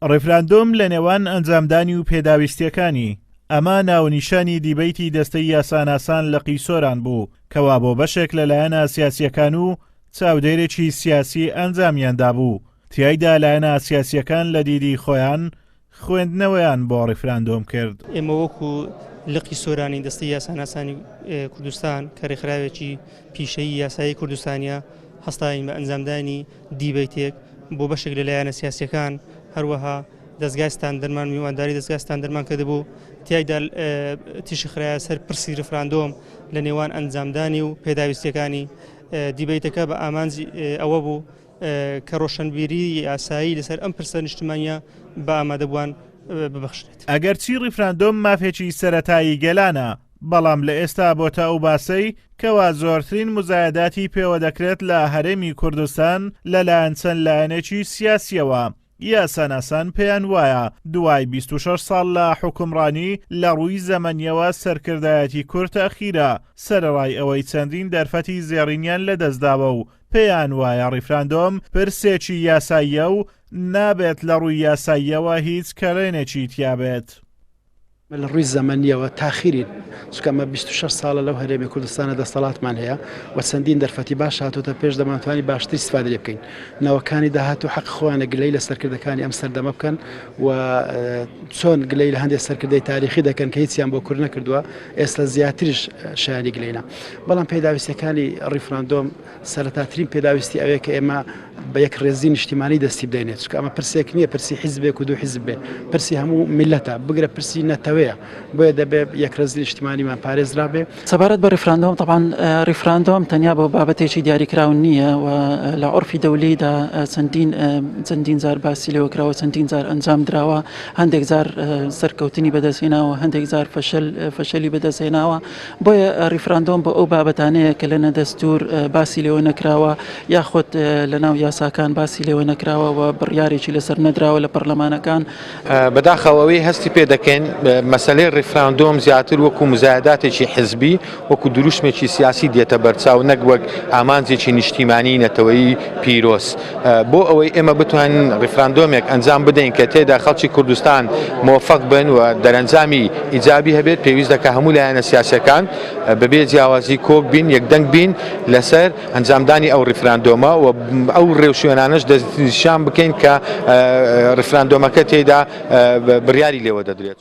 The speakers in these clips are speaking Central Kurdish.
ڕیفراندۆم لە نێوان ئەنجامدانی و پێداویستیەکانی ئەمە ناونیشانی دیبیتی دەستەی یاساناسان لە قیسۆران بوو کەوا بۆ بەشێک لە لایەنە سیاسیەکان و چاودێرێکی سیاسی ئەنجامیاندا بوو تایدا لایەنە سیاسیەکان لە دیدی خۆیان خوێندنەوەیان بۆ ڕیفراندۆم کرد ئێمە وەکو لقی سۆرانی دەستی یاساناسانی کوردستان کە ڕێکخراوێکی پیشەی یاسایی کوردستانیا هەستاین بە ئەنجامدانی دیبەیتێک بۆ بەشێک لە لایەنە سیاسییەکان، هەروەها دەزگای ستاندەرمان میوانداری دەزگای ستاندەرمان کردبوو، تیایدا تیشک خرایە سەر پرسی ریفراندۆم لە نێوان ئەنجامدانی و پێداویستییەکانی. دیبەیتەکە بە ئامانجی ئەوە بوو کە رۆشنبیریی یاسایی لەسەر ئەم پرسە نیشتمانییە بە ئامادەبووان ببەخشرێت. ئەگەرچی ریفراندۆم مافێکی سەرەتایی گەلانە، بەڵام لە ئێستا بۆ تا ئەو باسەی کەوا زۆرترین مزایەداتی پێوە دەکرێت لە هەرێمی کوردستان لە لایەن چەند لایەنێکی سیاسیەوە یاساناسان پێیان وایە دوای 26 ساڵ لە حکومڕانی لە ڕووی زەمەنیەوە سەرکردایەتی کورد تەخیرە سەرەڕای ئەوەی چەندین دەرفەتی زێڕینیان لە دەستداوە و پێیان وایە ڕیفراندۆم پرسێکی یاساییە و نابێت لە ڕووی یاساییەوە هیچ کەرێنێکی تیابێت. ئێمە لە ڕووی زەمەنییەوە تاخیرین، چونکە ئەمە بیست و شەش ساڵە لەو هەرێمی کوردستانە دەستەڵاتمان هەیە و چەندین دەرفەتی باش هاتووەتە پێش، دەمانتوانی باشتر ئیستفادەی لێ بکەین. نەوەکانی داهاتوو حەقی خۆیانە گلەی لە سەرکردەکانی ئەم سەردەمە بکەن و چۆن گلەی لە هەندێک سەرکردەی تاریخی دەکەن کە هیچیان بۆ کورد نەکردووە، ئێستا زیاتریش شایانی گلەینە. بەڵام پێداویستییەکانی ڕیفراندۆم، سەرەتاترین پێداویستی ئەوەیە کە ئێمە بە یەک ڕێزی نیشتیمانی دەستی بدەینێت چکە ئەمە پرسێک نییە پرسی حیزبێک و دوو حیزب بێ پرسی هەموو میلەتە بگرە پرسی نەتەوەیە بۆیە دەبێت یەک ڕێزی نیشتیمانیمان پارێزرا بێ سەبارەت بە ڕیفراندۆم طبعاان ڕیفراندۆم تەنیا بۆ بابەتێکی دیاریکراو نییە و لە عرفی دەولیدا چەندین چەندین جار باسی لەوە کراوە چەندین جار ئەنجام دراوە هەندێک جار سەرکەوتنی بەدەستهێناوە هەندێک جار فەشل فەشلی بەدەستهێناوە بۆیە ریفراندۆم بۆ ئەو بابەتانەیە کە لەنە دەستوور باسی لێوە نەکراوە یاخود لەناو یاساکان باسی لێوە نەکراوە و بڕیارێکی لەسەر نەدراوە لە پەرلەمانەکان. بەداخەوە ئەوەی هەستی پێ دەکەین مەسەلەی ریفراندۆم زیاتر وەکو مزایداتێکی حزبی وەکو دروشمێکی سیاسی دێتە بەرچاو نەک وەک ئامانجێکی نیشتیمانی نەتەوەیی پیرۆز. بۆ ئەوەی ئێمە بتوانین ڕیفراندۆمێک ئەنجام بدەین کە تێدا خەڵکی کوردستان مۆفەق بن و دەرەنجامی ئیجابی هەبێت پێویست دەکە هەموو لایەنە سیاسەکان بەبێ جیاوازی کۆک بین یەکدەنگ بین لەسەر ئەنجامدانی ئەو ڕیفراندۆمە و ئەو ڕێوشوێنانەش دەستنیشان بکەین کە ڕیفراندۆمەکە تێدا بڕیاری لێوە دەدرێت.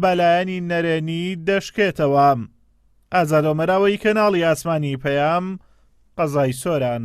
بەلایەنی نەرێنی دەشکێتەوە. ئازادۆمەراوەیی کەناڵی ئاسمانی پەیام، قەزای سۆران.